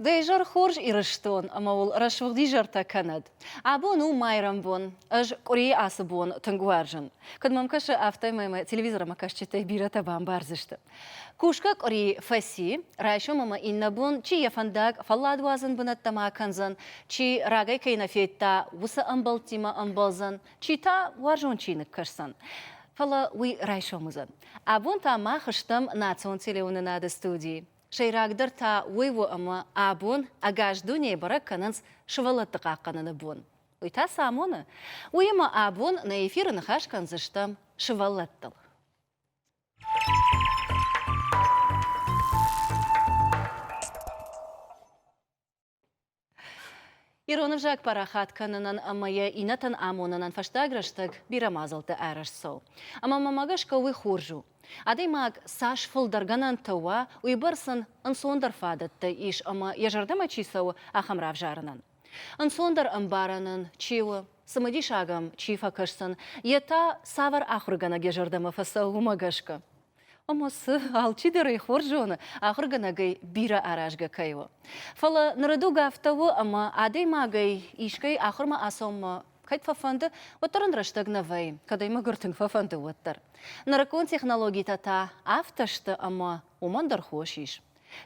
Дӕ изӕр хорз, Ирыстон, ӕмӕ уыл рӕсугъд изӕртӕ кӕнӕд. Абон у майрӕмбон. Ӕз къуырийы ацы бон тынг уарзын. Куыд мӕм кӕсы, афтӕмӕй мӕ телевизормӕ кӕсджытӕй бирӕтӕ бамбардзысты. Кусгӕ къуыри фӕци, райсом ӕмӕ иннӕ бон чи йӕ фӕндаг фӕлладуадзӕн бынӕттӕмӕ кӕндзӕн, чи рагӕй кӕй нӕ федта, уыцы ӕмбӕлттимӕ ӕмбӕлдзӕн, чи та уарзон чиныг кӕсдзӕн. Фӕлӕ уый райсом уыдзӕн. Абон та мах стӕм национ телеуынынады студийы. Сӕйрагдӕр та уый у ӕмӕ абон ӕгас дунейы бӕрӕг кӕнынц сывӕллӕтты хъахъхъӕныны бон. Уый та цы амоны? Уыимӕ абон нӕ эфиры ныхас кӕндзыстӕм сывӕллӕттыл. Ирон ӕвзаг парахат кӕнынӕн ӕмӕ йӕ иннӕтӕн амонынӕн фӕстаг рӕстӕг бирӕ мадзӕлтты ӕрӕзт цӕуы. Ӕмӕ мӕ гӕсгӕ уый хорз у. Адӕймаг цас фылдӕр гӕнӕнтӕ уа, уыйбӕрц ын ӕнцондӕр фадӕттӕ ис ӕмӕ йӕ зӕрдӕмӕ чи цӕуы, ахӕм равзарынӕн. Ӕнцондӕр ӕмбарӕн ын чи у, цымыдисаг ӕм чи фӕкӕсдзӕн, йе та цавӕр ахуыргӕнӕг йӕ зӕрдӕмӕ фӕцӕуы, уымӕ гӕсгӕ. Ӕмӕ цы, алчидӕр ӕй хорз зоны, ахуыргӕнӕгӕй бирӕ аразгӕ кӕй у. Фӕлӕ нырыдуг афтӕ у, ӕмӕ адӕймагӕй искӕй ахуырмӕ ацӕуынмӕ кӕд фӕфӕнды, уӕддӕр ын рӕстӕг нӕ вӕййы, кӕд ӕй мӕгуыр тынг фӕфӕнды, уӕддӕр. Нырыккон технологитӕ та афтӕ сты, ӕмӕ уымӕн дӕр хос ис.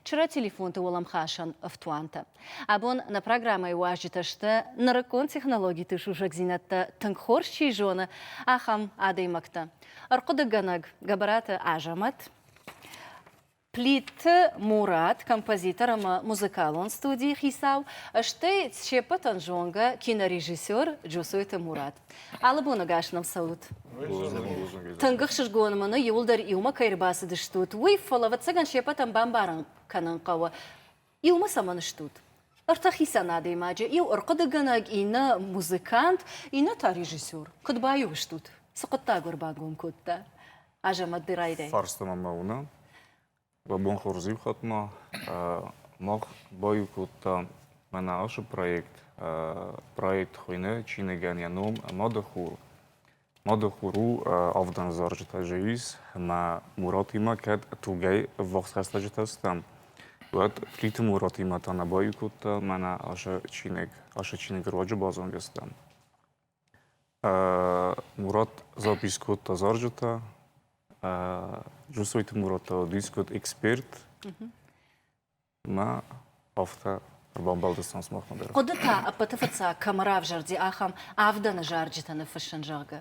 Чыры телефонты уӕлӕмхасӕн ӕфтуантӕ. Абон нӕ программӕйы уазджытӕ сты, нырыккон технологиты сусӕгдзинӕдтӕ тынг хорз чи зоны, ахӕм адӕймӕгтӕ. Ӕрхъуыдыгӕнӕг Гӕбӕраты Азӕмӕт, Плиты Мурат, композитор ӕмӕ музыкалон студийы хицау, стӕй се ппӕтӕн зонгӕ кинорежиссер Джосойты Мурат. Алы боныгас нӕм цӕут. Тынг ӕхсызгон мын у, иуылдӕр иумӕ кӕй ӕрбацыдыстут, уый, фӕлӕ, ӕвӕццӕгӕн, се пӕтӕн бамбарын кӕнын хъӕуы, иумӕ цӕмӕн стут. Ӕртӕ хицӕн адӕймаджы, иу ӕрхъуыдыгӕнӕг, иннӕ музыкант, иннӕ та режиссер. Куыд баиу стут? цы хъуыддаг ӕрбагом кодта Азӕмӕт Дырайрӕй. Фарста мӕм мӕ уыны. Ба бонхуӕрзеу хатгӕмӕ мах баеу кодтам Мӕнӕгъӕсы проект. Проект хуйнӕ чиныгӕн йӕ ном «Мады хур». «Мады хур» у авдӕн зарджытӕ зӕгъис ӕмӕ Муратимӕ кӕд тугӕй ӕввахс хӕстӕджытӕ стӕм, уӕд Плиты Муратимӕ та нӕ баеу кодта Мӕнӕгъӕсы чиныг. Ацы чиныг руаджы базонгӕ стӕм. Мурат запис кодта зарджытӕ. Джусойты Муратова дискот эксперт. Мӕ афтӕ ӕрбамбӕлдыстӕн сымахмӕ дӕр. Хъуыды та ӕппӕты фыццаг кӕмӕ равзӕрди, ахӕм авдӕны зарджытӕ ныффыссын, зӕгъгӕ.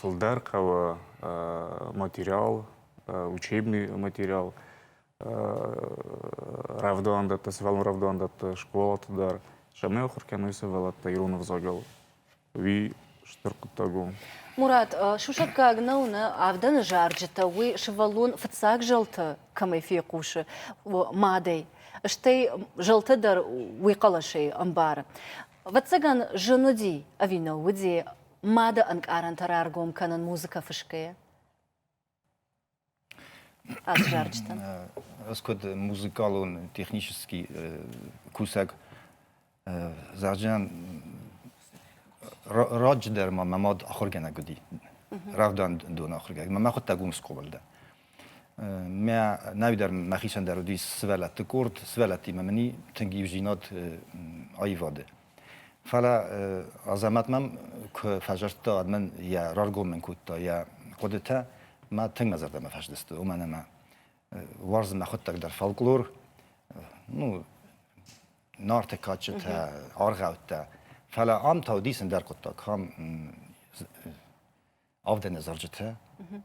Фылдӕр хъӕуы материал, учебный материал, рӕвдауӕндӕттӕ, сывӕллон рӕвдауӕндӕтты скъолаты дӕр, сӕмӕ ахуыр кӕной сывӕллӕттӕ ирон ӕвзагыл. Уый стыр хъуыддаг у. Мурат, сусӕггаг нӕу нӕ авдӕны зарджытӕ, уый сывӕллон фыццаг зӕлтӕ кӕмӕй фехъусы, мадӕй, стӕй зӕлтӕ дӕр уый хъӕлӕсӕй ӕмбары. Ӕвӕццӕгӕн, зын уыди ӕви нӕ уыди мады ӕнкъарӕнтӕ раргом кӕнын музыкӕ фысгӕйӕ? Аззарджытӕн. Ӕз куыд музыкалон технический кусӕг зарджытӕн раджыдӕр ма мӕ мад ахуыргӕнӕг уыди, рӕвдауӕндон ахуыргӕнӕг. Мӕ хуыдтаг уым скъолайы дӕн. Мӕ нӕй дӕр мӕхицӕн дӕр уыди сывӕллӕтты къорд, сывӕллӕттимӕ мын и тынг иудзинад аивады. Фӕлӕ Азӕмӕт мӕм куы фӕзӕрдта, уӕд мын йӕ раргом мын кодта йӕ хъуыдытӕ, мӕ тынг мӕ зӕрдӕмӕ фӕздысты, уымӕн ӕмӕ уарзын мӕ хъуыддаг дӕр фольклор, ну, нарты кадджытӕ, аргъӕуттӕ. Фӕлӕ ам та уыди сын дӕр хъуыддаг, ам авдӕны зарджытӕ,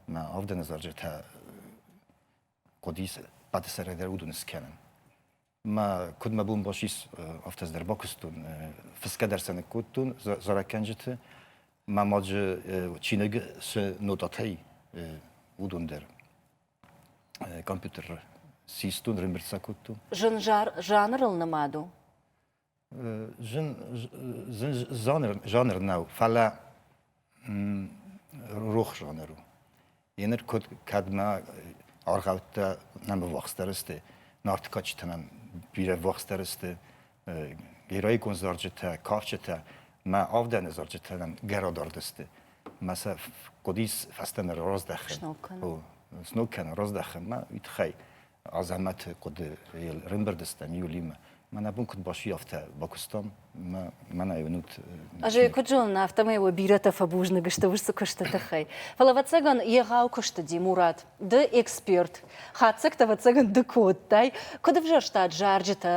мӕ авдӕны зарджытӕ хъуыдис хъӕдысӕрӕй дӕр уыдон скӕнын. ма куыд мӕ бон басис афтӕ дӕр бакуыстон фысгӕ дӕр сӕ ныккодтон зарӕггӕнджыты ма маджы чиныг цы нотатӕй уыдон дӕр компьютер систон рымбырд сӕ кодтон зын жанрыл нымад у зын жанр нӕу, фӕлӕ рох жанр у. Еныр куыд кӕдмӕ аргъӕуттӕ нӕм ӕввахсдӕр сты, Нартыкачытӕ нӕм бирӕ ӕввахсдӕр сты, героикон зарджытӕ, кафджытӕ, мӕ авдӕны зарджытӕ нӕм гӕрадард сты. Мӕ сӕ хъуыдис фӕстӕмӕ раздӕхын. Сног кӕнын. Сног кӕнын, раздӕхын, мӕ уый тыххӕй. Азӕмӕты хъуыды рымбырд стӕм июлимӕ. Мӕнӕ бон куыд басуйӕфтӕ бакуыстам, мӕнӕ уынут. Ӕз ӕй куыд зонын, афтӕмӕй уӕ бирӕтӕ фӕбузныг сты уыцы куысты тыххӕй. Фӕлӕ, ӕвӕццӕгӕн, егъау куы сдыди Мурат, ды эксперт, хатдзӕгтӕ, ӕвӕццӕгӕн, ды куы уыдтай. Куыд ӕвзӕрстат зарджытӕ,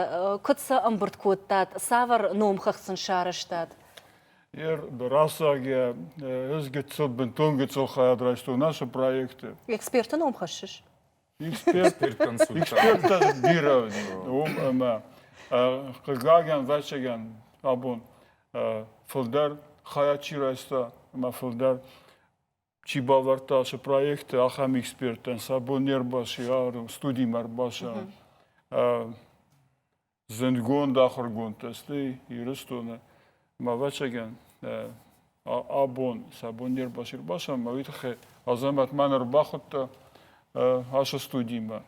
куыд сӕ ӕмбырд кодтат, цавӕр номхыгъд сын сарӕзтат? Рацӕг йӕ, ӕз гыццыл, бынтон гыццыл хайад райстон ацы проекты. Эксперты ном хӕссыс? Эксперттӕн бирӕ уым ӕмӕ хъыгагӕн, ӕвӕццӕгӕн, абон фылдӕр хайад чи райста ӕмӕ фылдӕр чи бавӕрдта сӕ проекты, ахӕм эксперттӕн сӕ бон не рбаци, студимӕ ӕрбаци. Зындгонд ахуыргондтӕ сты Ирыстоны ӕмӕ ӕвӕццӕгӕн абон сӕ бон не рбацыд бацамын, уый тыххӕй Азӕмӕт ма нӕ ӕрбахуыдта ацы студимӕ.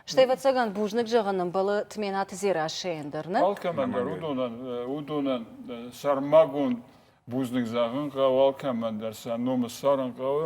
Стӕй, ӕвӕццӕгӕн, бузныг зӕгъын ӕмбӕлы Тменаты Дзерассӕйӕн дӕр, нӕ? Алкӕмӕн дӕр уыдонӕн, уыдонӕн сӕрмагонд бузныг зӕгъын хъӕуы, алкӕмӕн дӕр сӕ номы ссарын хъӕуы,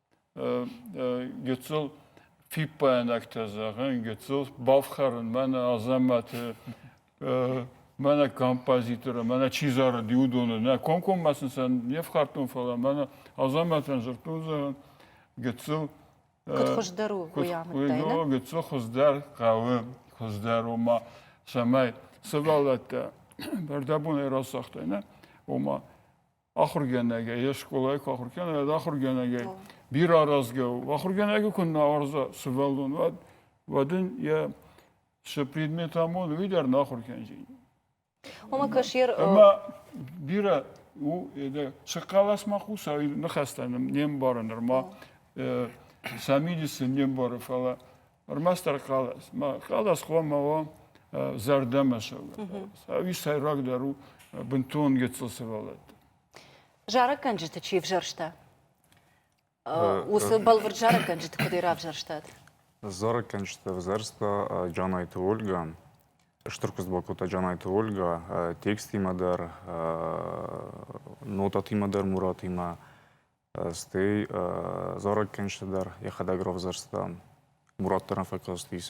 гыццыл фиппаинӕгтӕ зӕгъын, гыццыл бафхӕрын мӕнӕ Азӕмӕты мӕнӕ композиторы, мӕнӕ чи зарыд, уыдоны. Нӕ комкоммӕ сын сӕ не фхӕрдтон, фӕлӕ мӕнӕ Азӕмӕтӕн зыртон зӕгъын, гыццыл Куыд хуыздӕр у, уый амыдтай, нӕ? Гыццыл хуыздӕр хъӕуы, хуыздӕр, ома, цӕмӕй сывӕллӕттӕ зӕрдӕбонӕй рацагътай, нӕ? Ома, ахургӕнӕгӕй, йе скъолайы куы ахуыр кӕна, уӕд ахургӕнӕгӕй бирӕ аразгӕ у. Ахургӕнӕгы куы нӕ уарза сывӕллон, уӕд уӕд ын йӕ цы предмет амоны, уый дӕр нӕ ахуыр кӕндзӕни. Ома кашьер ӕмӕ бирӕ у это сыхъхъӕлӕсмӕ хъусӕй ныхӕстӕ не мбары нырма сӕ мидисы не мбары, фӕлӕ Ӕрмӕстдӕр хъӕлӕс. Хъӕлӕс хъуамӕ уа зӕрдӕмӕ сӕвӕрд. Ӕви сӕйрагдӕр у бынтон гыццыл сывӕллӕтты? Зарӕггӕнджыты чи взӕрста? Уыцы бӕлвырд зарӕггӕнджыты куыдӕй равзӕрстат? Зарӕггӕнджыты взӕрста Джанайты Ольгӕ. Стыр куыдз бакодта Джанайты Ольгӕ текстимӕ дӕр, нотатимӕ дӕр Муратимӕ. Стӕй дзорӕг кӕнджыты дӕр йӕхӕдӕг равзӕрста. Мурат дӕр фӕкастис.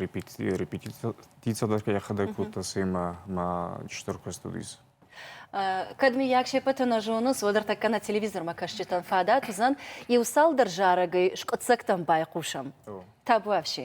Репетици дӕр йӕхӕдӕг кодта, цӕмӕ ма стыр куыст уыдис. Кӕд, миййаг, се ппӕты нӕ зонынц, уӕд ӕртӕккӕ нӕ телевизормӕ кӕсджытӕн фадат уыдзӕн иу цалдӕр зарӕгӕй скъуыддзӕгтӕм байхъусӕм. Табуафси.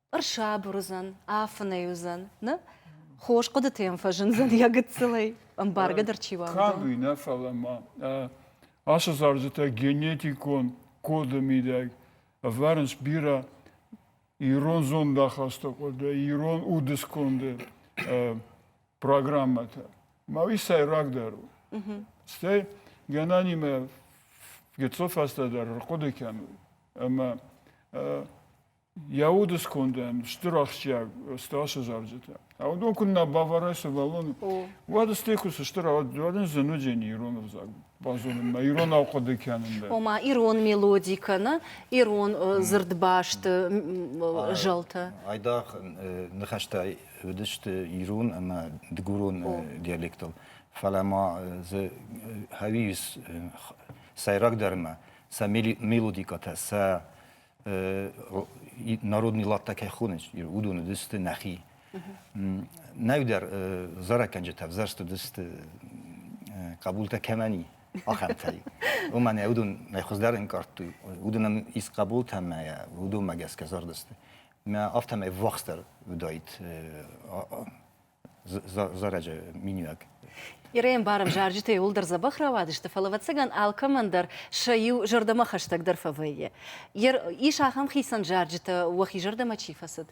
ӕрсабыр уыдзӕн, афынӕй уыдзӕн, нӕ? Хорз хъуыдыты йӕм фӕзындзӕн йӕ гыццылӕй, ӕмбаргӕ дӕр чи уа, уыдон. Кӕд уый нӕ, фӕлӕ ма ацы зарджытӕ генетикон коды мидӕг ӕвӕрынц бирӕ ирон зондахасты къуырды, ирон уды сконды программӕтӕ. Ма уый сӕйрагдӕр у. Стӕй гӕнанимӕ гыццыл фӕстӕдӕр ӕрхъуыды кӕнут, ӕмӕ Йӕ уды скондӕн стыр ахсджиаг ӕстӕсы зарджытӕ. Уыдон куыннӕ бавӕрай сывӕллоны, уӕд стӕй куы сыстыр, уӕд ын зын уыди не ирон ӕвзаг базонынмӕ, иронау хъуыды кӕнын дӕр. Ома ирон мелоди кӕнӕ ирон дзырдбасты зӕлтӕ. Айдагъ ныхӕстӕ уыдысты ирон ӕмӕ дыгурон диалектыл, фӕлӕ ма дзы хъавис сӕйрагдӕрмӕ сӕ мелодикӕтӕ, сӕ народный ладтӕ кӕй хонынц, уыдоны дысты нӕхи. Нӕудӕр зарӕггӕнджытӕ ӕвзӕрст уыдысты хъӕбултӕ кӕмӕн и, ахӕмтӕй. Омӕ нӕ уыдон нӕ хуыздӕр ӕнкъардтой. Уыдонӕн ис хъӕбултӕ ӕмӕ уыдонмӕ гӕсгӕ зард сты. Мӕ афтӕмӕй ввахсдӕр уыдаид зарӕджы миниуӕг. Ирӕй ӕмбарӕм, зарджытӕ иууылдӕр дзӕбӕх рауадысты, фӕлӕ ӕвӕццӕгӕн алкӕмӕн дӕр сӕ иу зӕрдӕмӕ хӕстӕгдӕр фӕвӕййы. Ис ахӕм хицӕн зарджытӕ, уӕхи зӕрдӕмӕ чи фӕцыд?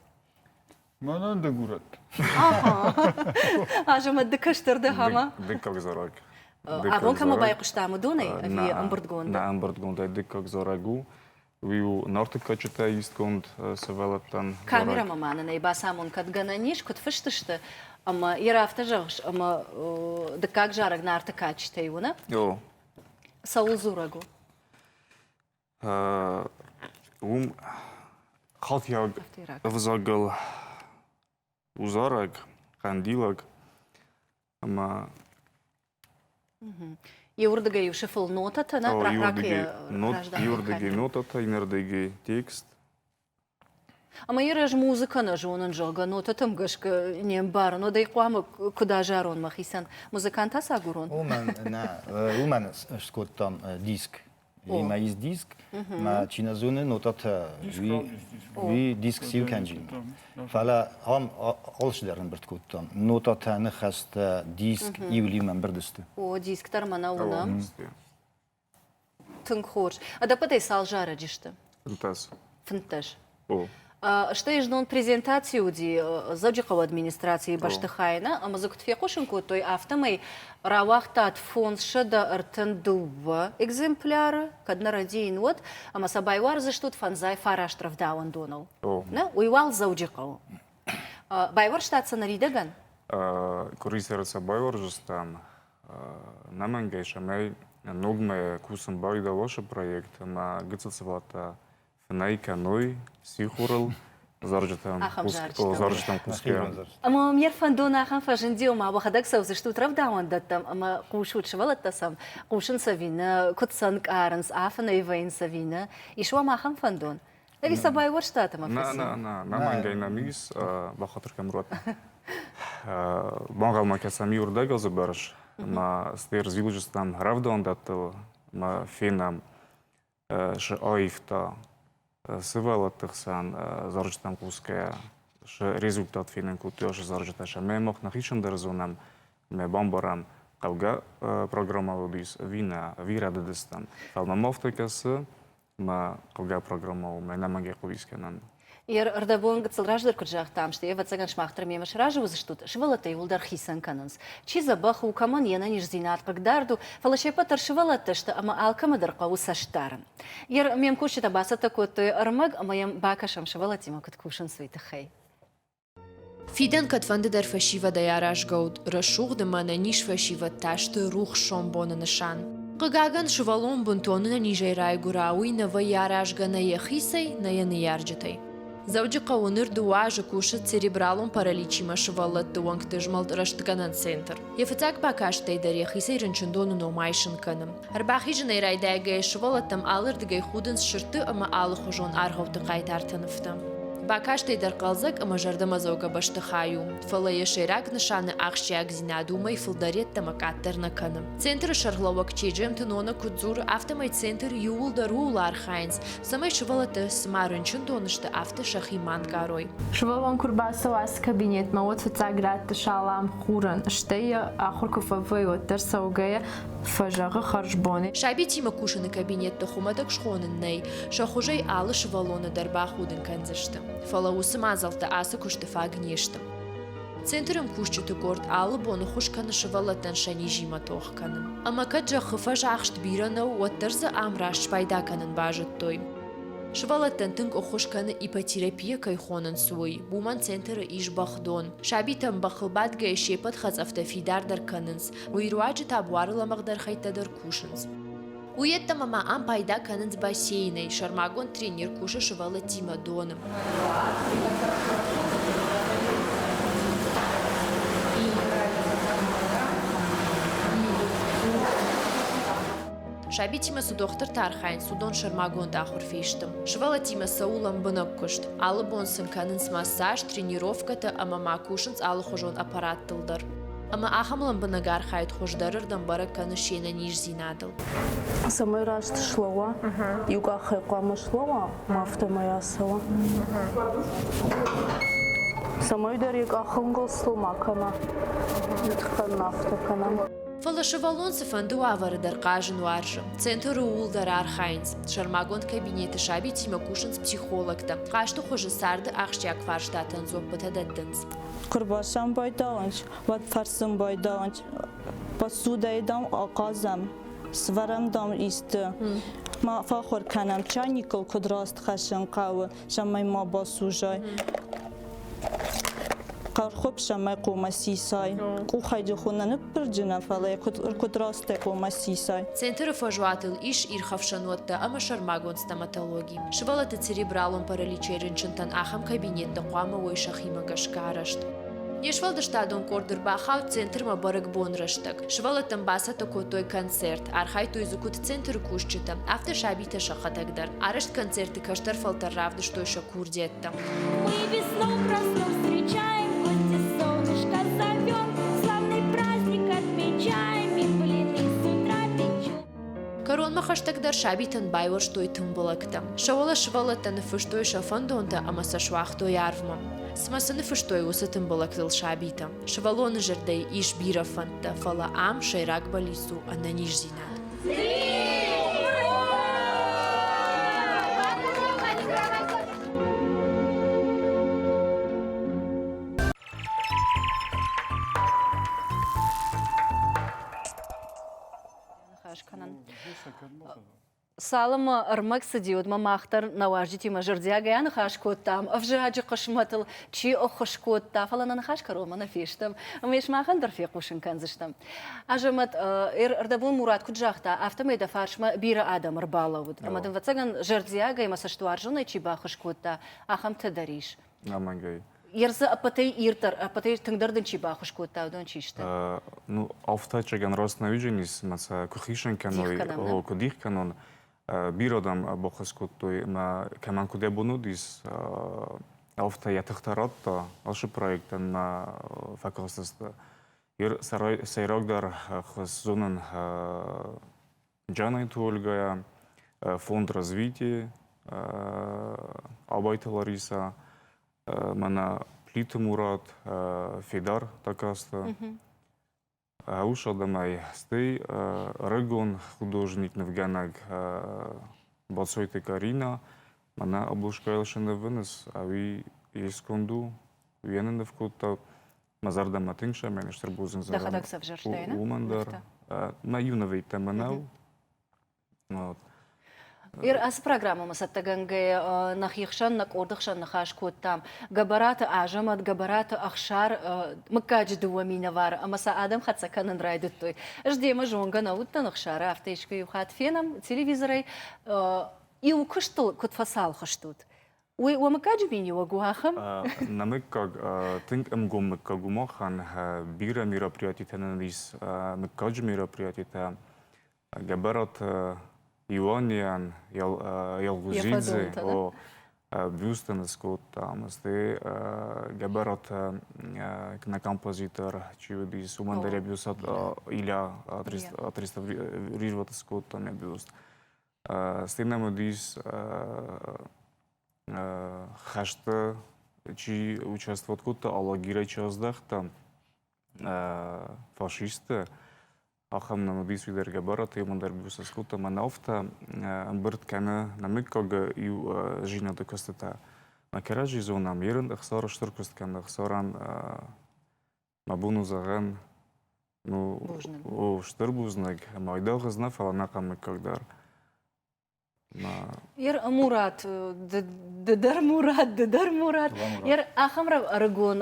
Мӕнӕн дыгурӕг. Азӕмӕт ды кӕстӕр дӕ ӕмӕ? Дыккаг зарӕг. Абон кӕмӕ байхъуыстам, уыдонӕй ӕви ӕмбырдгондӕй? Нӕ ӕмбырдгондӕй дыккаг зарӕг у Уый у нартыккӕджытӕй истгонд сывӕллӕттӕн. Камерӕмӕ ма нын ӕй бацамон, кӕд гӕнӕн ис, куыд фыст сты, ӕмӕ йӕ афтӕ зӕгъыс, ӕмӕ дыккаг зарӕг нарты кадджытӕй у, нӕ? О. Цӕуыл дзурӕг у? Уым халтиаг ӕвзагыл у зарӕг, хъӕндилаг. ӕмӕ Иуырдыгӕй-иу сыфыл нотӕтӕ нӕ Иуырдыгӕй нотӕтӕ, иннӕрдыгӕй текст. Ӕмӕ йӕ ӕз музыкӕ нӕ зонын, зӕгъгӕ, нотӕтӕм гӕсгӕ не мбарын, уӕд ӕй хъуамӕ куыд азарон мӕхицӕн? Музыкант ацагурон? Уымӕн нӕ, уымӕн скодтам диск имаис диск ма чи нӕ зоны нотатӕ уи диск сил кӕнджин фӕлӕ ам алчидӕр ӕмбырд кодтам нотатӕ ныхӕстӕ диск иулимӕ ӕмбырд сты о диск дӕр мӕнӕ уынӕм тынг хорз ӕдӕппӕтӕй цал зарӕджы сты фынддӕс фынддӕс Стӕй знон презентаци уыди Дзӕуджыхъӕуы администрацийы бӕстыхайы нӕ, ӕмӕ дзы куыд фехъусын кодтой, афтӕмӕй рауагътат фондзсӕдӕ ӕртын дыууӕ экземпляры, кӕд нӕ рӕдийын, уӕд, ӕмӕ сӕ байуардзыстут фӕндзай фараст рӕвдауӕндоныл. Нӕ, уый уал Дзӕуджыхъӕуы. Байуӕрстат сӕ ныридӕгӕн? Къуырисӕры сӕ байуӕрзыстӕм ӕнӕмӕнгӕй, цӕмӕй ногмӕ кусын бауид Алосы проект ӕмӕ гыццыл сывӕллӕттӕ фынӕй кӕной сихорыл зарджытӕм зарджытӕм хъусгӕ. Ӕмӕ ме рфӕндон ахӕм фӕзынди, ома уӕхӕдӕг цӕудзыстут рӕвдауӕндӕттӕм ӕмӕ хъусут сывӕллӕттӕ сӕм, хъусын цӕви нӕ, куыд сӕ нкъарынц, афынӕй вӕййын цӕви нӕ. Ис уӕм ахӕм фӕндон? Ӕви сӕ байуӕрстат ӕмӕ фӕци? Нӕ, нӕ, нӕ, мӕ мӕнгӕй нӕм ис, бахатыр кӕм уат. Банхъӕлмӕ кӕсӕм иуырдӕг азы бӕрц, ӕмӕ стӕй ӕрзилыджы стӕм рӕвдауӕндӕттыл ӕмӕ фенӕм, саивта сывӕллӕтты хсӕн зарджытӕм хъусгӕйӕ сӕ результат фенын кодтой ацы зарджытӕ сӕ мӕ мах нӕхи сӕндӕр зонӕм мӕ бамбарӕм хъӕугӕ программӕйыл уыдис ӕви нӕ ӕви рӕдыдыстӕм фӕлӕ мӕ афтӕ кӕсы мӕ хъӕугӕ программӕ у мӕнӕ мӕнгӕй хъуыдис кӕнӕм Йе рдӕбон гыццыл раздӕр куыд загътам, стӕй ӕвӕццӕгӕн сымах дӕр мемӕ сразы уыдзыстут, сывӕллӕттӕ иууылдӕр хицӕн кӕнынц. Чи дзӕбӕх у, кӕмӕн йе нӕниздзинад хъыгдард у, фӕлӕ се ппӕт дӕр сывӕллӕттӕ сты ӕмӕ алкӕмӕ дӕр хъӕуы цӕст дарын. Йе ме мкусджытӕ бацӕттӕ кодтой ӕрмӕг ӕмӕ йӕм бакӕсӕм, сывӕллӕттимӕ куыд кусынц, уый тыххӕй. Фидӕн кӕдфӕндыдӕр фӕсивӕдӕй аразгӕ уыд рӕсугъд ӕмӕ ӕнӕниз фӕсивӕд та сты рухс сомбоны нысан. Хъыгагӕн, сывӕллон бынтон ӕнӕнизӕй райгуыра, уый нӕ вӕййы аразгӕ нӕ йӕхицӕй, нӕ йӕ ныййарджытӕй. Дзӕуджыхъӕуы ныр дыууӕ азы кусы церебралон параличимӕ сывӕллӕтты уӕнгты змӕлд рӕстгӕнӕн центр. Йӕ фыццаг бакастӕй дӕр йӕхицӕй рынчындоны ном айсын кӕны. Ӕрбахизынӕй райдайгӕйӕ сывӕллӕттӕм алырдыгӕй худынц сырдты ӕмӕ алыхуызон аргъӕутты хъайтарты нывтӕ. Бакастӕй дӕр хъӕлдзӕг ӕмӕ зӕрдӕмӕдзӕугӕ бӕстыхай у, фӕлӕ йӕ сӕйраг нысаны ахсджиагдзинад уымӕй фылдӕр йеддӕмӕ къаддӕр нӕ кӕны. Центры сӕргълӕууӕг Чеджемты Нона куыд дзуры, афтӕмӕй центр иууылдӕр ууыл архайынц, цӕмӕй сывӕллӕттӕ цыма рынчындон сты, афтӕ сӕхи ма нгарой. Сывӕллон куы рбацӕуа ацы кабинетмӕ, уӕд фыццаг рӕтты салам хурӕн, стӕй йӕ ахуыр куы фӕвӕййы, уӕддӕр цӕугӕйӕ фӕзӕгъы хӕрзбон. Сабитимӕ кусыны кабинетты хуымӕтӕг схонын нӕй, сӕ хуызӕй алы сывӕллоны дӕр бахудын кӕндзысты. Фӕлӕ уыцы мадзӕлттӕ ацы куысты фаг не сты. Центрӕн кусджыты къорд алы боны ххуыс кӕны сывӕллӕттӕн сӕ низимӕ тох кӕнын. Ӕмӕ кӕд зӕххы фӕзӕхст бирӕ нӕу, уӕддӕр дзы ам раст спайда кӕнын базыдтой. Сывӕллӕттӕн тынг ӕххуыс кӕны ипотерапия кӕй хонынц, уый. Уымӕн центры ис бӕхдон. Сабитӕн бӕхыл бадгӕйӕ се ппӕт хӕцъӕфтӕ фидардӕр кӕнынц, Уый руаджы та буары лӕмӕгъдӕр хӕйттӕ дӕр кусынц. Уый йеддӕмӕ ма ам пайда кӕнынц бассейнӕй. Сӕрмагонд тренер кусы сывӕллӕттимӕ доны. Сабитимӕ цы дохтыртӕ архайынц, уыдон сӕрмагонд ахуыр фесты. Сывӕллӕттимӕ цӕуы лӕмбынӕг куыст. Алы бон сын кӕнынц массаж, тренировкӕтӕ ӕмӕ ма кусынц алыхуызон аппараттыл дӕр. Ӕмӕ ахӕм лӕмбынӕг архайд хуыздӕрырдӕм бӕрӕг кӕны се нӕниздзинадыл. Цӕмӕй раст слӕууа, иу къахӕй хъуамӕ слӕууа, ма афтӕмӕй ацӕуа. Цӕмӕйдӕр йӕ къахынгыл сыл ма кӕна. Йӕ тыхтӕн ма афтӕ кӕна. Фӕлӕ сывӕллон цыфӕнды уавӕры дӕр хъазын уарзы. Центры ууыл дӕр архайынц. Сӕрмагонд кабинеты сабитимӕ кусынц психологтӕ. Хъазты хуызы царды ахсджиаг фарстатӕн дзоппытӕ дӕттынц. Куы рбацӕуын байдауынч, уӕд фӕрсын байдауынч, посудӕйы, дам, ахъазӕм, свӕрӕм, дам, исты. Ма фӕхур кӕнӕм чайникыл, куыд раст хӕссын хъӕуы, цӕмӕй ма басужай. Хъӕрхуыпсӕмӕ хъумӕ сисай. Къухӕй ды хуы нӕ ныппырджынӕ, фӕлӕ куыд, куыд растӕй хъумӕ сисай. Центры фӕзуатыл ис ирхӕфсӕнуӕттӕ ӕмӕ сӕрмагонд стоматологи. Сывӕллӕтты церебралон параличӕй рынчынтӕн ахӕм кабинеттӕ хъуамӕ уой сӕхимӕ гӕсгӕ арӕзт. Не сфӕлдыстадон къорд ӕрбахауд центрмӕ бӕрӕгбон рӕстӕг. Сывӕллӕттӕн бацӕттӕ кодтой концерт, архайдтой дзы куыд центры кусджытӕ, афтӕ сабитӕ сӕхӕдӕг дӕр. Арӕзт концерты кӕстӕр фӕлтӕр равдыстой сӕ курдиӕттӕ. Мы весной проснув встречаем хоть и солнышко зовет. Славный праздник отмечаем и пылины с утра печем. Кӕронмӕ хӕстӕгдӕр сабитӕн байуӕрстой тымбылӕгтӕ. Сӕ уӕлӕ сывӕллӕттӕ ныффыстой сӕ фӕндонтӕ ӕмӕ сӕ суагътой арвмӕ. Цымӕ цы ныффыстой уыцы тымбылӕгтыл сабитӕ? Сывӕллоны зӕрдӕйы ис бирӕ фӕндтӕ, фӕлӕ ам сӕйраг бӕллиц у ӕнӕниздзинад. Цалынмӕ ӕрмӕг цыди, уӕдмӕ мах дӕр нӕ уазджытимӕ зӕрдиагӕй аныхас кодтам ӕвзаджы хъысмӕтыл, чи ӕххуыс кодта, фӕлӕ нӕ ныхас кӕронмӕ нӕ фестӕм. Ӕмӕ сымахӕн дӕр фехъусын кӕндзыстӕм. Азӕмӕт, ӕрдӕбон Мурат куыд загъта, афтӕмӕй дӕ фарсмӕ бирӕ адӕм ӕрбалӕууыд, ӕмӕ дын, ӕвӕццӕгӕн, зӕрдиагӕй ӕмӕ цӕстуарзонӕй чи баххуыс кодта, ахӕмтӕ дӕр ис. Нормальгай. Ерсы ӕппӕтӕй ирддӕр, ӕппӕтӕй тынгдӕр дын чи баххуыс кодта, уыдон чи сты? Ну, auftatschegӕн Росноюдженис мӕ сӕ куы хицӕн кӕной, куы дих кӕнон, бирӕ адӕм баххуыс кодтой мӕ кӕмӕн куыд ӕбон уыдис, афтӕ йӕ тыхтӕ радта ашы проектӕн мӕ фӕкастысты. Ир сӕйрагдӕр хыз зонын Джанайты Ольгӕйӕ, Фонд развития Абайты Лариса, мӕнӕ Плиты Мурат, Федар Такаста. Ус адӕмӕй, стӕй рагон художник нывгӕнӕг Бацойты Карина, мӕнӕ Облушка Елшины выныс, ӕви искуынд у, уе ныв кодта, Мӕ зӕрдӕмӕ тынг сӕмӕныстыр бузныг Дӕхӕдӕг сӕвзӕрстай, не? Уымӕн дӕр мӕ иу нывӕйттӕ мӕнӕу. Ацы программӕмӕ цӕттӕгӕнгӕйӕ нӕхи хсӕн, нӕ къорды хсӕн ныхас кодтам Гӕбӕраты Азӕмӕт, Гӕбӕраты Ӕхсар, мыггаджы дыууӕ минӕвары ӕмӕ сӕ адӕм хӕццӕ кӕнын райдыдтой. Ӕз демӕ зонгӕ нӕ уыдтӕн Ӕхсары, афтӕ искуы иу хатт фенӕм телевизорӕй, иу куыстыл куыд фӕцалх стут, Уый уӕ мыггаджы миниуӕг у ахӕм? Нӕ мыггаг тынг ӕмгом мыггаг у махӕн. Бирӕ мероприятитӕ нын ис, мыггаджы мероприятитӕ. Гӕбӕраты Илонийӕн Ялгузидзе бюстӕн скодтам, стӕй Гӕбӕраты на композитор чи уыдис, уымӕн дӕр йӕ бюст Иля атреставрировать скодта мӕ бюст. стӕй нӕм уыдис хӕсты чи участвовать кодта алагирӕй чи аздӕхта фашистты ахӕм нӕм уыдис уый дӕр гӕбӕраты уымӕн дӕр бизнес кодта мӕнӕуфтӕ ӕмбырд кӕны намыггаг иу зинады куыстытӕ мӕ кӕрӕдзи зонӕм ерын ӕхсар стыр куыст кӕны ӕхсарӕн Абон у зӕгъӕн, ну, у стыр бузныг ӕмӕ айдагъ знӕ фӕлӕ нӕ хъӕмыккаг дӕр. Ер Мурат, дыдӕр Мурат, дыдӕр Мурат. Ер ахӕм ӕрыгон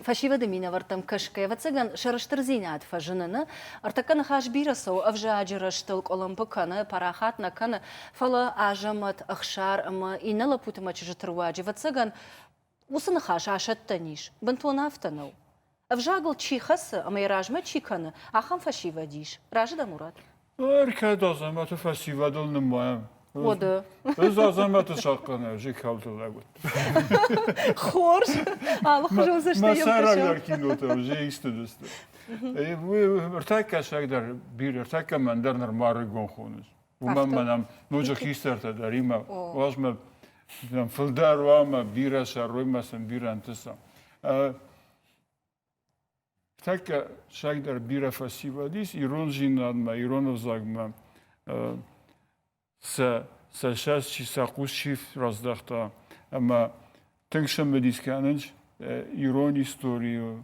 фӕсивӕды минӕвӕрттӕм кӕсгӕ, ӕвӕццӕгӕн, сӕрыстырдзинад фӕзыныны ӕртӕккӕ ныхас бирӕ цӕуы, ӕвзаджы рӕзтыл къуылымпы кӕны, парахат нӕ кӕны, фӕлӕ Азӕмӕт, Ӕхсар ӕмӕ иннӕ лӕппуты мӕ чызджыты руаджы, ӕвӕццӕгӕн, Уыцы ныхас асӕттӕн ис, бынтон афтӕ нӕу. Ӕвзагыл чи хӕцы ӕмӕ йӕ размӕ чи кӕны, ахӕм фӕсивӕд ис. Разы дӕ, Мурат? Ныр кӕд Азӕмӕты фӕсивӕдыл нымайӕм? Уӕдӕ. Ӕз Азӕмӕты сахъхъӕнӕджы кӕуылты лӕг уыдтӕн. Хорз. Алыхуызон цӕстӕй йӕм Мӕ сӕйрагдӕр кинотӕ уыди X-тыдысты. Уый ӕртӕккӕсӕг дӕр бирӕ, ӕртӕккӕ мӕн дӕр нырма ӕрыгон хоныц. уымӕн ма нӕм ноджы хистӕртӕ дӕр имӕ уазмӕ нӕм фылдӕр уа ӕмӕ бирӕ сӕрой ма сын бирӕ ӕнтыса. Тӕккӕ сӕйдӕр бирӕ фӕсивӕдис ирон зинадмӕ, ирон ӕвзагмӕ сӕ сӕ сӕст чи сӕ хъус чи раздӕхта ӕмӕ Тынг сӕмбӕлис кӕнынч ирон историйыл,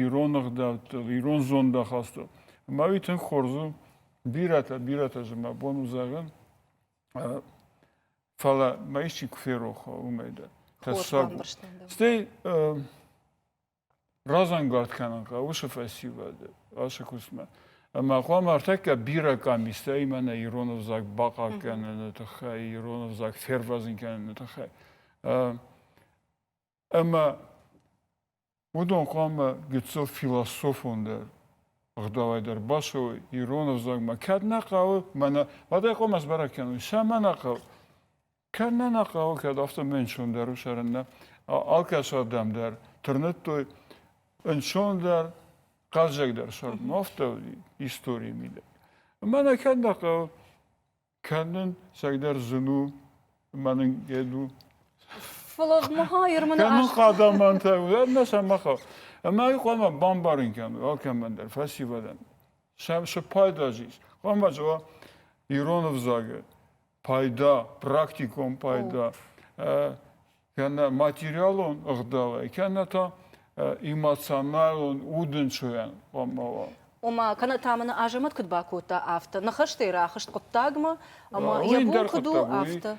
ирон ӕгъдӕуттыл, ирон зондахастыл. Ӕмӕ уый тынг хорз у. Бирӕтӕ, бирӕтӕ зын мӕ бон у зӕгъын. Фӕлӕ мӕ исчи куы ферох уымӕй дӕр. Тӕссаг у. Стӕй разӕнгард кӕнын хъӕуы сӕ фӕсивӕды ацы куыстмӕ ӕмӕ хъуамӕ ӕртӕккӕ бирӕ къамистӕимӕ нӕ ирон ӕвзаг бахъахъ кӕныны тыххӕй ирон ӕвзаг фервӕзын кӕныны тыххӕй ӕмӕ уыдон хъуамӕ гыццыл философондӕр ӕгъдауӕй дӕр басой ирон ӕвзагмӕ кӕд нӕ хъӕуы мӕнӕ уӕдӕй хъуамӕ сбӕрӕг кӕной сӕ мӕ нӕ хъӕуы Кӕд нӕ нӕ хъӕуы, кӕд афтӕмӕй ӕнцондӕр у цӕрын нӕ алкӕцырдӕм дӕр тырныдтой ӕнцондӕр, хъӕлдзӕгдӕр цӕрын. Афтӕ уыди историйы мидӕг. Ӕмӕ нӕкӕд нӕ хъӕуы кӕнын сӕйдӕр зын у, мӕнг у. Флегмаир мын Кӕнын хъадамантӕ у, ӕмӕ сӕ ма хъӕуы. Ӕмӕ уый хъуамӕ бамбарын кӕной алкӕмӕн дӕр, фӕсивӕдӕн. Сӕм цы пайда ис? Хъуамӕ зӕгъа ирон ӕвзагы пайда, практикон пайда, кӕнӕ материалон ӕгъдауӕй, кӕнӕ та эмоционалон удӕнчойӕн хъуамӕ уа. Ома, кӕнӕ та мын Азӕмӕт куыд бакодта, афтӕ. Ныхӕстӕй рахызт хъуыддагмӕ, ӕмӕ йӕ бон куыд у, афтӕ.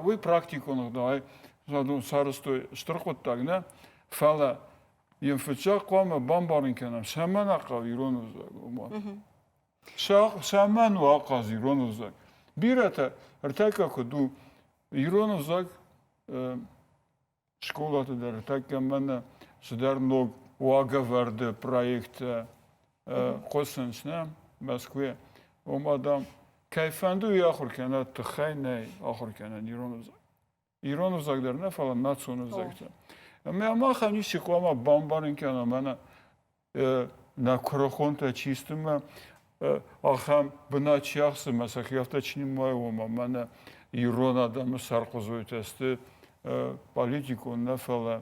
Уый практикон ӕгъдауӕй задон сарӕзтой стыр хъуыддаг нӕ, фӕлӕ йын фыццаг хъуамӕ бамбарын кӕнӕм, цӕмӕн ахъау ирон ӕвзаг уымӕн. Цӕмӕн у ахъаз ирон ӕвзаг? Бирӕтӕ ӕртӕккӕ куыд у, ирон ӕвзаг скъолаты дӕр ӕртӕккӕ мӕнӕ цыдӕр ног уагӕвӕрды проекттӕ хъуысынц нӕ Мӕскуыйӕ. Ома, дам, кӕй фӕнды уый ахуыр кӕна, тыххӕй нӕй ахуыр кӕнӕн ирон ӕвзаг. ирон ӕвзаг дӕр нӕ фӕлӕ национ ӕвзӕгтӕ ӕмӕ махӕн ницы хъуамӕ бамбарын кӕна мӕнӕ нӕ куырыхонтӕ чи сты мӕ ахӕм бынат чи ахсы мӕ сӕхи афтӕ чи нымайы ома мӕнӕ ирон адӕмы сӕрхъуызойтӕ сты политикон нӕ фӕлӕ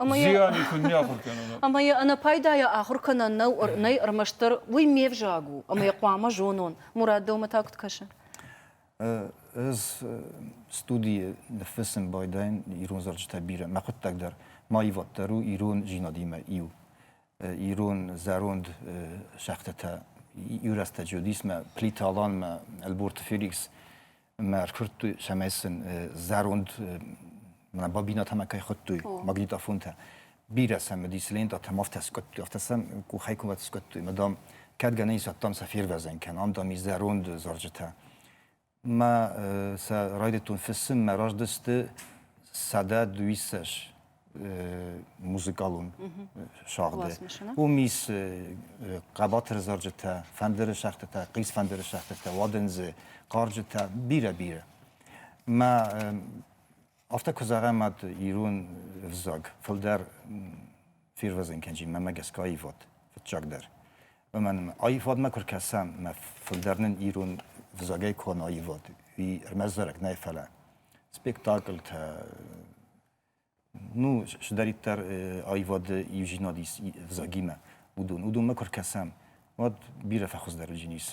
Зиани куыннӕ ахуыр кӕнон. Ӕмӕ йӕ ӕнӕпайдайӕ ахуыр кӕнӕн нӕу, нӕй ӕрмӕстдӕр уый ме взаг у, ӕмӕ йӕ хъуамӕ зонон. Мурат, дӕумӕ та куыд кӕсы? Ӕз студийы ныффыссын байдайын ирон зарджытӕ бирӕ. Мӕ хъуыддаг дӕр ма ивад дӕр у ирон-зинадимӕ иу. Ирон зӕронд шахтӕтӕ, Ирӕстӕджы уыдис мӕ Плита-Аланмӕ, Ӕлборты Феликс мӕ ӕркуырдтой, цӕмӕй сын зӕронд мӕ бабинӕтӕмӕ кӕй хуыдтой магнитофонтӕ. Бирӕ цӕмӕдис лентӕтӕм афтӕ скодтой, афтӕ сӕм къухӕй кувӕт скодтой. Мадам, кӕд гӕнӕн ис адтам сӕ фервӕзӕн кӕнӕм, ам, дам, и зӕронд зарджытӕ. Мӕ сӕ райдыдтон фыссын, мӕ раздысты сӕдӕ дыууиссӕс музыкалон сагъды. Уым ис хъӕбатыр зарджытӕ, фӕндыры сӕгътытӕ, хъис фӕндыры сӕгътытӕ, уадындзы, хъарджытӕ, бирӕ-бирӕ. Мӕ афтӕ куы зӕгъӕм ӕд ирон ӕвзаг, фылдӕр фирвӕзын кӕнджын мӕмӕ гӕсгӕ аивад фыццагдӕр. Ӕмӕ аивадмӕ куы ркӕсӕм, мӕ фылдӕр нын ирон ӕвзагӕй куы аивад, уый ӕрмӕст зарӕг нӕй, фӕлӕ спектакльтӕ, ну шдӕриддӕр аивады иудзинад ис взагимӕ уыдон уыдонмӕ куы ркӕсӕм уӕд бирӕ фӕхуыздӕр уыджын ис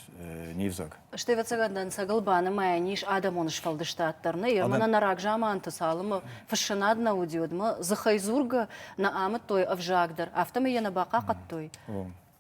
не взаг. Стӕй ӕвӕццӕгӕн дӕнцӕгыл банымайӕн ис адӕмон сфӕлдыстад дӕр нӕ. Ермӕнӕн нӕ рагзаманты цалынмӕ фыссынад нӕ уыди, уӕдмӕ дзыхӕй дзургӕ нӕ амыдтой ӕвзаг дӕр, афтӕмӕй йӕ нӕ бахъахъӕдтой.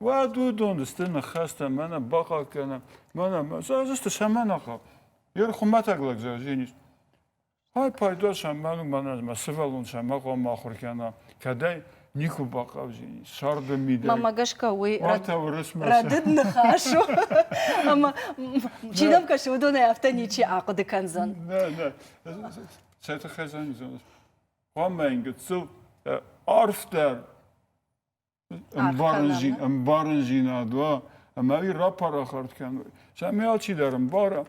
Уӕд уыдон сты ныхӕстӕ, мӕнӕ бахъал кӕнӕм, мӕнӕ мӕ сты сӕмӕнахъ. Йе хумӕтӕг лӕг зӕгъин ис. Ай пайда сӕмӕн мӕнӕ мӕ сывӕллон сӕмӕ хъуамӕ ахуыр кӕна, кӕдӕй никуы бахъавзин ис сӕрды мидӕй. Мамӕ гӕсгӕ уый рӕдыд ныхас у ӕмӕ чи нӕм кӕсы, уыдонӕй афтӕ ничи ахъуыды кӕндзӕн. Нӕ, нӕ, сӕ тыххӕй зӕгъин, хъуамӕ йын гыццыл арфдӕр ӕмбарындзинад уа ӕмӕ уый рапарахат кӕн. Цӕмӕй алчидӕр ӕмбара,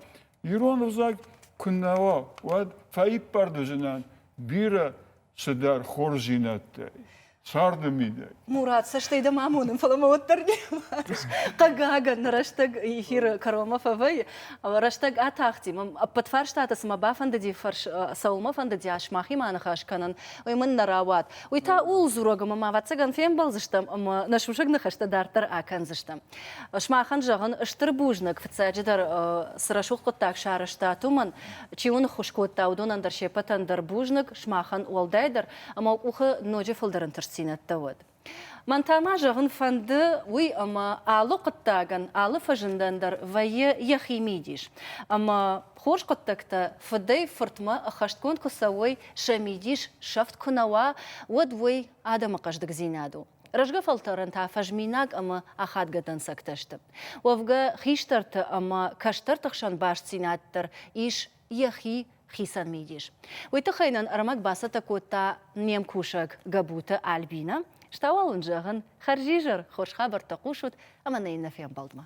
ирон ӕвзаг куыннӕ уа, уӕд фӕиппӕрд уыдзынӕн бирӕ цыдӕр хорздзинӕдтӕй царды мидӕй. Мурат, цӕстӕй дӕм амонын, фӕлӕ мӕ уӕддӕр не мбарыс. Хъыгагӕн, нӕ рӕстӕг эфиры кӕронмӕ фӕвӕййы. Рӕстӕг атахти. Мӕ ӕппӕт фарстаты цыма бафӕндыди фӕрс, цӕуылмӕ фӕндыди ас мӕхимӕ аныхас кӕнын, уый мын нӕ рауад. Уый та ууыл дзурӕг ӕмӕ ма ӕвӕццӕгӕн фембӕлдзыстӕм ӕмӕ нӕ сусӕг ныхӕстӕ дарддӕр акӕндзыстӕм. Сымахӕн зӕгъын, стыр бузныг, фыццаджыдӕр, цы рӕсугъд хъуыддаг сарӕзтат, уымӕн, чи уын ныххуыс кодта, уыдонӕн дӕр се ппӕтӕн дӕр бузныг, сымахӕн уӕлдайдӕр, ӕмӕ уӕ къухы ноджы фылдӕр ӕнтыстдзинӕдтӕ уӕд. Мӕн та ма зӕгъын фӕнды уый, ӕмӕ алы хъуыддагӕн, алы фӕзындӕн дӕр вӕййы йӕхи мидис. Ӕмӕ Хорз хъуыддӕгтӕ фыдӕй-фыртмӕ ӕххӕстгонд куы цӕуой, сӕ мидис сӕфт куы нӕ уа, уӕд уый адӕмы хъӕздыгдзинад у. Рӕзгӕ фӕлтӕрӕн та фӕзминаг ӕмӕ ахадгӕ дӕнцӕгтӕ сты. Уӕвгӕ, хистӕрты ӕмӕ кӕстӕрты хсӕн бастдзинад дӕр ис йӕхи хицӕн мидис. Уый тыххӕй нын ӕрмӕг бацӕттӕ кодта не мкусӕг Гӕбуты Альбинӕ. Стауал уын зӕгъын, хӕрзизӕр хорз хабӕрттӕ хъусут ӕмӕ нӕ иннӕ фембӕлдмӕ.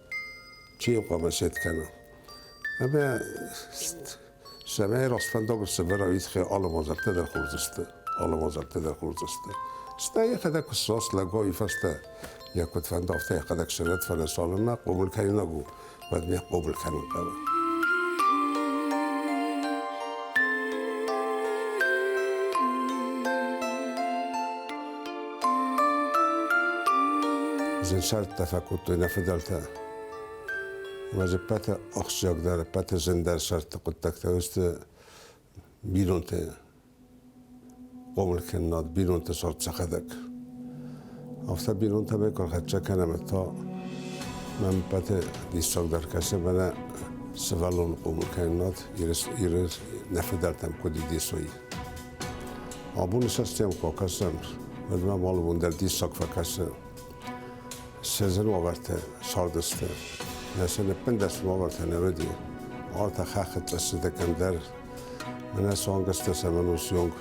Чи хъуамӕ сет кӕна? Ӕмӕ сӕмӕй растфӕндагыл сӕвӕрӕвид хе алы мадзӕлттӕ дӕр хурдзысты. Алы мадзӕлттӕ дӕр хурдзысты. Стӕ йӕхӕдӕг куы ссос лӕго уый фӕстӕ йӕ куыд фӕнда, афтӕ йӕхӕдӕг сӕнӕт, фӕлӕ цалынмӕ къобыл кӕнинаг у, уӕдмӕ къобыл кӕнын хъӕуы. Зын сӕрттӕ фӕкодтой нӕ фыдӕлтӕ. Ӕмӕ ӕппӕты ахсджиагдӕр, ӕппӕты зындӕр сӕрты хъуыддӕгтӕ сты бинонты хъомылкӕнынад, бинонты сорт сӕхӕдӕг. Афтӕ бинонтӕ мӕ куы хӕццӕ кӕнӕм, то мӕм ӕппӕты диссагдӕр кӕсы мӕнӕ сывӕллоны хъомылкӕнынад Иры нӕ фыдӕлтӕм куыд идисой. Абон сыстем фӕкӕсӕм, уӕдмӕ алывон дӕр диссаг фӕкӕсы. Се зын уавӕртӕ сардысты. Нӕ сын ӕппындӕс уавӕртӕ не уыди. Артӕ хӕххытӕ цыдӕкӕн дӕр. Мӕнӕ цуангӕстӕ цӕмӕн у сйонг,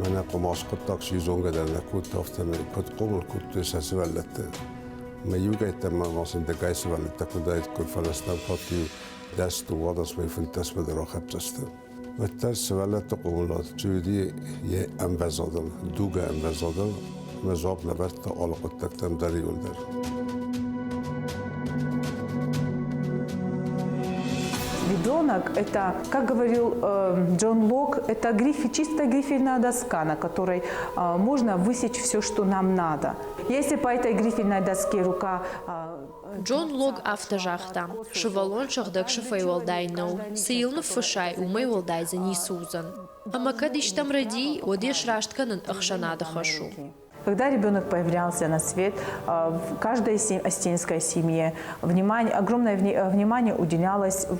мӕнӕ хъуымац хъуыддаг чи зонгӕ дӕр нӕ кодта, афтӕ куыд хъомыл кодтой сӕ сывӕллӕтты. Мӕ иугӕйттӕ мӕ ма дӕгай сывӕллӕттӕ куыдаид, куыд фӕрӕзтам фат-иу дӕс дыууадӕс vai фынддӕсмӕ дӕр ахӕпдзӕсты. уӕддӕр сывӕллӕтты къулыл чи уыди йе ӕмбӕзадыл, дугы ӕмбӕзадыл, мӕ дзуапп лӕвӕрдта алы хъуыддӕгтӕм дӕр иуылдӕр. ребенок – это, как говорил э, Джон Лок, это грифель, чисто грифельная доска, на которой э, можно высечь все, что нам надо. Если по этой грифельной доске рука э, Джон Лог афтӕ загъта, Сывӕллон сыгъдӕг сыфӕй уӕлдай нӕу, цы йыл ныффыссай, уымӕй уӕлдай дзы ницы уыдзӕн. Ӕмӕ кӕд истӕм рӕди, уӕд йе сраст кӕнын ӕхсӕнады хӕс у. Когда ребенок появлялся на свет, в каждой остинской семье внимание, огромное внимание уделялось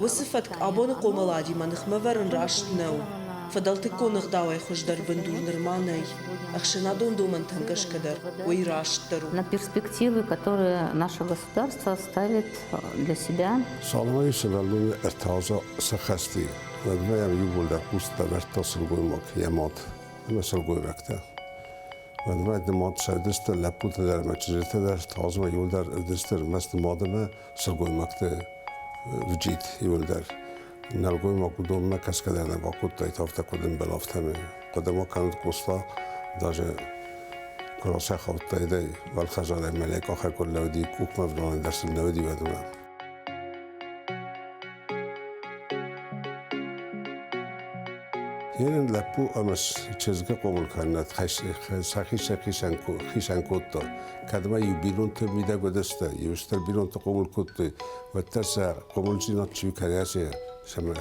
Уыцы фӕтк абоны хъомыладимӕ ныхмӕвӕрын раст нӕу. Фыдӕлтыккон ӕгъдауӕй хуыздӕр бындур нырма нӕй, ӕхсӕнадон домӕнтӕм гӕсгӕ дӕр уый растдӕр у. На перспективы, которые наше государство ставит для себя. Саломайы сывӕллоны ӕртӕаза сӕ хӕсти уӕдмӕ иууылдӕр хъусдта дардта сылгоймаг йӕ мад ӕмӕ сылгойрӕгтӕ. Уӕдмӕ нымад сӕрдыстыр лӕппутӕ дӕр ӕмӕ чызджытӕ дӕр тазмӕ иууылдӕр ӕрдыстыр мӕсты мадимӕ сылгоймӕгты вджид иуылдӕр. Нӕлгоймаг уыдонмӕ кӕсгӕ дӕр нӕ бакодтаид, афтӕ куыд ӕмбӕл, афтӕмӕй. Хъуыдымӕ канд Къоста даже куы расӕхаудтаидӕй Балхазарӕй мӕлӕг ахӕр куы лӕууыди, къухмӕ ӕвналӕн дӕр сын лӕууыди уӕдмӕ. Йен лӕппу ӕма чызгӕ хъомыл кӕннӕд сӕхи-сӕхицӕн хицӕн кодта. Кӕдмӕ иу бинонтӕ мидӕг уадӕста, еустӕр бинонтӕ хъомыл кодтой, уӕддӕр сӕ хъомылдзинад чи кӕрӕдзи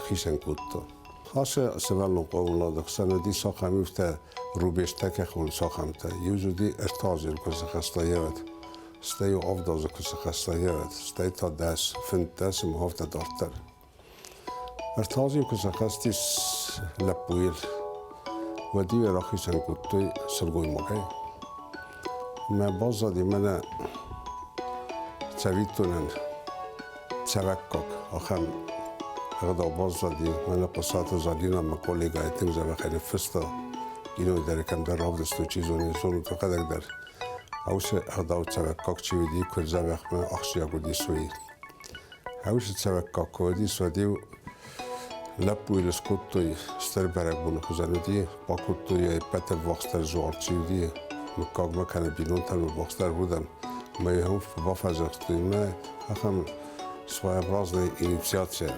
хицӕн кодта. Хаса сӕвӕллон хъомылады хсӕн уыди сахамивтӕ рубежтӕ кӕхон сахамтӕ. Иу уыди ӕртӕ азы куы дзахаста евӕд. стӕй иу авд азы куы сыхӕсса йӕ ад, стӕй та дӕс, фынддӕс ӕмӕ афтӕ дарддӕр. Ӕртӕ азы куы сӕххӕстис лӕппуйыл, уӕд-иу йӕ рахицӕн кодтой сылгоймагӕй. Мӕ баззад и мӕнӕ цӕвиттонӕн цӕвӕггаг ахӕм ӕгъдау баззади мӕнӕ Хъуысаты Залина мӕ коллегӕйы тынг зӕрӕхӕй ныффыста кинойы дӕр кӕмдӕр равдыстой, чи зоны, зонут, хӕдӕг дӕр. Хаусы ӕгъдау цӕрӕггаг чи уыди, куыд дзӕбӕхмӕ ахсджиаг уыдис, уый. Хаусы цӕрӕггаг куы уыдис, уӕд-иу лӕппуйыл скодтой стыр бӕрӕгбоны хуызӕн уыди, бакодтой йӕ ӕппӕт дӕр ввахсдӕр зуар чи уыди, мыггагмӕ кӕнӕ бинонтӕн ввахсдӕр удӕн, ӕмӕ йӕм бафӕдзӕхстой мӕ ахӕм своеобразная инициация.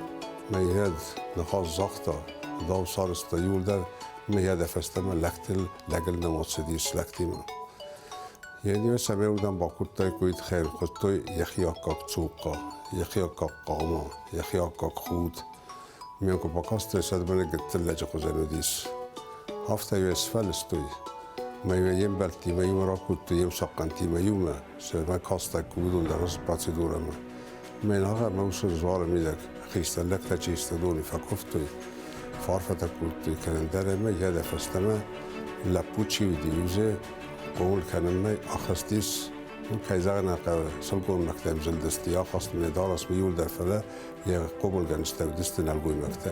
Мӕ йӕд ныхас загъта, дау сарызта иуылдӕр, мӕ йӕдӕ фӕстӕмӕ лӕгтыл лӕгӕл нӕм ацыдис лӕгти мин ене сӕмеудан бакудтайкоид хел кодтой ехи аккаг цулка ехи аккаг хъама ехи аккаг худ менко бакастой садбане гыттыллӕджы хузӕнудис афта юес фӕлыстой мӕймӕ ембӕлттимӕ имӕ ракудтой емсахъхъантимӕ иумӕ сӕмӕ кастайкко уыдон дӕр процедурӕмӕ Менагъа ӕнусы дзуары мидӕг хистӕрлӕгтӕ чи стадони фӕкуывтой, фарфӕтӕ кодтой кӕнӕндӕр ӕмӕ йӕ фӕстӕмӕ лӕппу чи уыди, узе хъомыл кӕнынмӕ ахызтис Ну, кӕй зӕгъын хъӕуы, сылгоймӕгтӕм зылдысты, ахастой дарӕсмӕ иуылдӕр, фӕлӕ йӕ хъомылгӕнджытӕ уыдысты нӕлгоймӕгтӕ.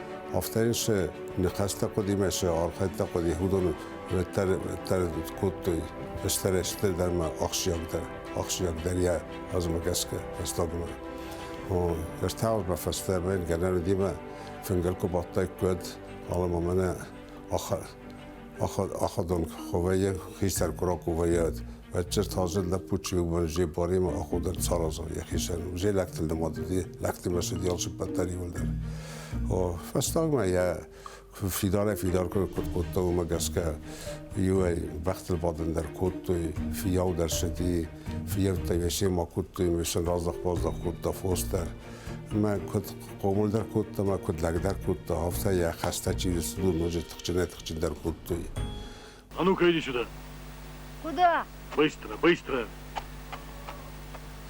Афтӕ се ныхӕстӕ хъуыдимӕ се архайдтӕ хъуыди, уыдон дӕр кодтой стӕрӕстӕ дӕр ма ахсджиагдӕр, ахсджиагдӕр йӕ азмӕ гӕсгӕ фӕстагмӕ. Ӕртӕ фӕстӕмӕ гӕнӕн уыдимӕ фынгыл куы бадтаик, уӕд ала мамӕнӕ Аходон ховӕйӕн хистӕр курокувӕйӕд, Бӕтчер тазыр лӕппу чи у, зе баримӕ аходӕр царазон йӕхицӕн. Зе лӕгтыл нымадыди, лӕгтимӕ сыд ялсыппӕттӕр иуылдӕр. Фӕстагмӕ йӕ фидарӕй фидар кой кодта, уымӕ гӕсгӕ иуӕй бӕхтыл бадын дӕр кодтой, фийау дӕр сыди, фийӕуттӕй весе ма кодтой, весе раздах-баздах кодта фос дӕр. Мӕ куыд хъомыл дӕр кодта, мӕ куыд лӕг дӕр кодта, афтӕ йӕ хӕстӕ чи цыд, ноджы Тыхджынӕй тыхджындӕр кодтой. А ну-ка иди сюда. Куда? Быстро, быстро.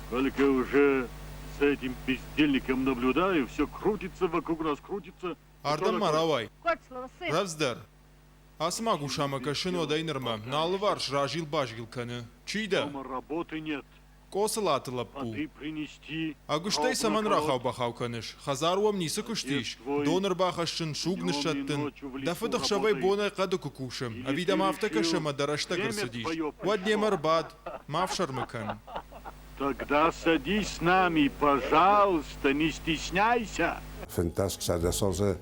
Сколько я уже с этим бездельником наблюдаю, все крутится вокруг нас, крутится. Ардӕм ма рауай. Раздӕр. Ацы магусамӕ кӕсы нодӕй нырмӕ. Нӕ алыварс разил-базил кӕны. Чи дӕ? Дома работы нет. Къоцылаты лӕппу. Ӕгуыстӕй цӕмӕн рахау-бахау кӕныс? Хӕдзар уӕм ницы куыст ис? Дон ӕрбахӕссын, суг ныссӕттын? Дӕ фыд ӕхсӕвӕй бонӕй хъӕды куы кусы, ӕви дӕм афтӕ кӕсы ӕмӕ дӕ рӕстӕг ӕрцыдис, уӕд немӕ ӕрбад, ма фсӕрмы кӕн. Тогда садись с нами, пожалуйста, не стесняйся! Фынддӕс-сӕдӕс азы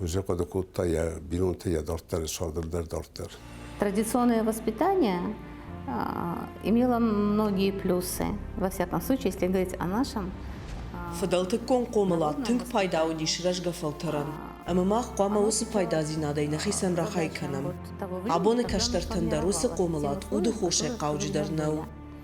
Уже хъуыды кодта йӕ бинонты йӕ дарддӕры сабыр дӕр дарддӕр. Традиционное воспитание имело многие плюсы, во всяком случае, если говорить о нашем. Фыдӕлтыккон хъомылад тынг пайда уыдис рӕзгӕ фӕлтӕрӕн, ӕмӕ мах хъуамӕ уыцы пайдадзинадӕй нӕхицӕн рахай кӕнӕм. Абоны кӕстӕртӕн дӕр уыцы хъомылад уды хосӕй хъауджыдӕр нӕу.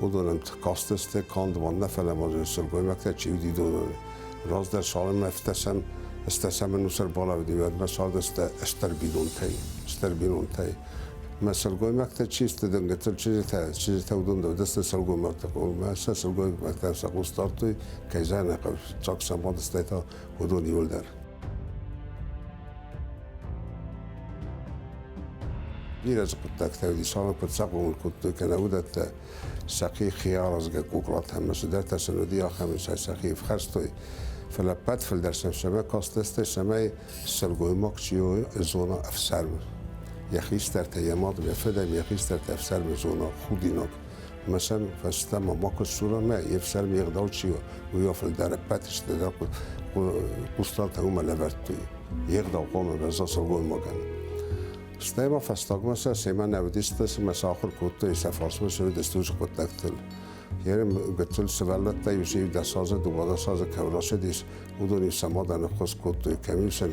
уыдонӕн хъазтысты канд ванна, фӕлӕ ма сылгоймӕгтӕ чи уыдидонӕн. Раздӕр шалымӕфтӕсӕн стӕсӕмӕн усӕр балаудим, ӕдмӕ шадысты стӕр бинонтӕй, стӕр бинонтӕй. Мӕ сылгоймӕгтӕ чи сты дынгӕтыл, чызджытӕ, чызджытӕ уыдон дӕдысты сылгоймӕгтӕ, мӕ сӕ сылгоймӕгтӕ сӕ хъус дардтой, кӕй зӕнӕхъӕв, чак сӕ бадыстӕй та уыдон иуылдӕр. Бирӕ дзы хъуыддӕгтӕ уыдис, алы куыд сӕ хъомыл кодтой, кӕнӕ уыдӕттӕ сӕхи хиаразгӕ куклатӕ ӕмӕ цыдӕртӕ сын уыди, ахӕм сӕ сӕхи ӕфхӕрстой. Фӕлӕ ӕппӕт фылдӕр сӕм семӕ кастысты, цӕмӕй сылгоймаг чи у, зона ӕфсармы. Йӕ хистӕртӕ, йӕ мад, йӕ фыд ӕмӕ йӕ хистӕртӕ ӕфсармы зона худинаг. Мысӕн фӕстӕмӕ ма куы ссурамӕ, йе фсармы егъдау чи у, уый фӕлдӕр ӕппӕт сты дӕр хъусталтӕ уымӕ лӕвӕрдтой. Егъдау хъомыл гӕза сылгоймагӕн. Стӕй ма фӕстагмӕ сӕ семӕ нӕ уыдисты, цыма сӕ ахуыр кодтой сӕ фарсмӕ сӕ уыдысты хъуыддӕгтыл. Йе гуттыл сывӕллӕттӕ иу дӕс азы, дыууадӕс азы кӕм расыдис, уыдон сӕ мадӕн ӕххуыс кодтой, кӕм иу сын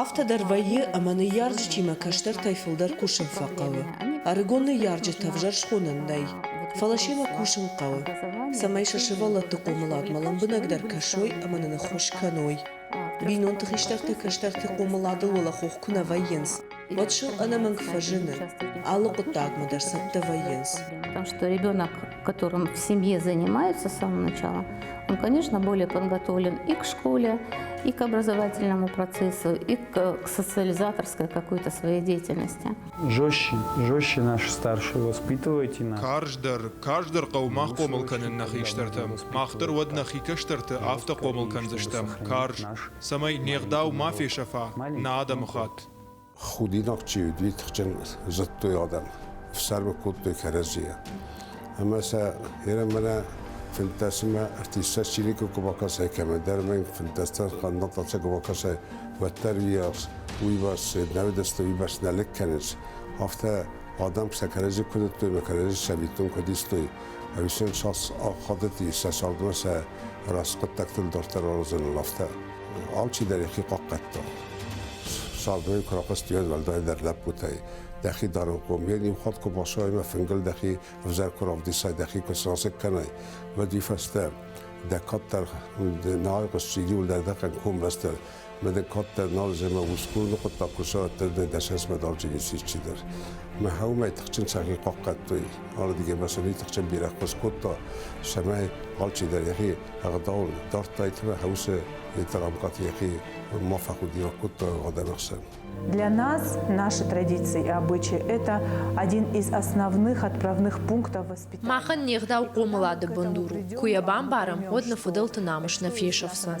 Афтӕ дӕр вӕййы, ӕмӕ ныййарджытимӕ кӕстӕртӕй фылдӕр кусын фӕхъӕуы. Ӕрыгон ныййарджыты ӕвзӕр схонӕн нӕй, фӕлӕ семӕ кусын хъӕуы, цӕмӕй сӕ сывӕллӕтты хъомыладмӕ лӕмбынӕгдӕр кӕсой ӕмӕ нын ӕххуыс кӕной. Бинонты хистӕртӕ кӕстӕрты хъомыладыл уӕлӕхох куы нӕ вӕййынц, уӕд сыл ӕнӕмӕнг фӕзыны, алы хъуыддагмӕ дӕр цӕттӕ вӕййынц. Потому что ребенок которым в семье занимаются с самого начала, он, конечно, более подготовлен и к школе, и к образовательному процессу, и к социализаторской какой-то своей деятельности. Жестче, жестче наши старшие воспитывайте нас. Карздӕр, карздӕр хъӕумӕ хъомыл кӕнын нӕ хистӕртӕ. Мах дӕр уӕд нӕ хикӕстӕрты афтӕ хъомыл кӕндзыстӕм. Карз, цӕмӕй не гъдау ма фесӕфа нӕ адӕмы хатт. Худинаг чи уыди, тыхджын зыдтой адӕм, ӕфсӕрмы кодтой кӕрӕдзийӕ. Ӕмӕ сӕ Иры-мыры фынддӕсымӕ артисттӕ чиныг куы бакӕсай, кӕмӕндӕр мӕнг фынддӕстӕ хъаннӕгтӕ куы бакӕсай, уӕддӕр уыйарс, уыйбӕрц нӕудӕсты уыйбӕрц нӕ лӕг кӕныс. Афтӕ адӕм сӕ кӕрӕдзи куы ныдтой мӕ кӕрӕдзи сабитон куыд истой, ӕвдисӕн сас ахадыти сӕ цардмӕ сӕ рӕс хъуыддӕгтыл дарддӕр аразыныл афтӕ. Алчидӕр йӕхи хъахъхъӕдта. Сӕрдойы куы рахъуыстӕй уӕлдай дӕр лӕппутӕй. Дӕхи дарынхъом, йе ниухатт куы басайма, фынгыл дӕхи ӕвзӕр куы равдисай, дӕхи куы срасыг кӕнай, уӕди фӕстӕ дӕ кӕддӕр нал хъуысти иуылдӕр дӕхӕн комбӕстӕ, ме дӕ кӕддӕр нал земӕ усгурны хъуыддаг куы сӕттӕр, дӕ дӕсӕсмӕ дарджы ницы исчидӕр. Мӕ хаумӕй тыхджын сахи хъахъхъӕдтой, ардыгӕй басони тыхджын бирӕ хъус кодта, самай алчидӕр йӕхи Ӕгъдау дардтайтӕ хӕусе это рамкат ехи ма факультировать кутта Годановсе. Для нас наши традиции и обычаи – это один из основных отправных пунктов воспитания. Махӕн не гъдау хъомылады бындур у. Куы йӕ бамбарӕм, уӕд нӕ фыдӕлты намыс нӕ фесӕфдзӕн.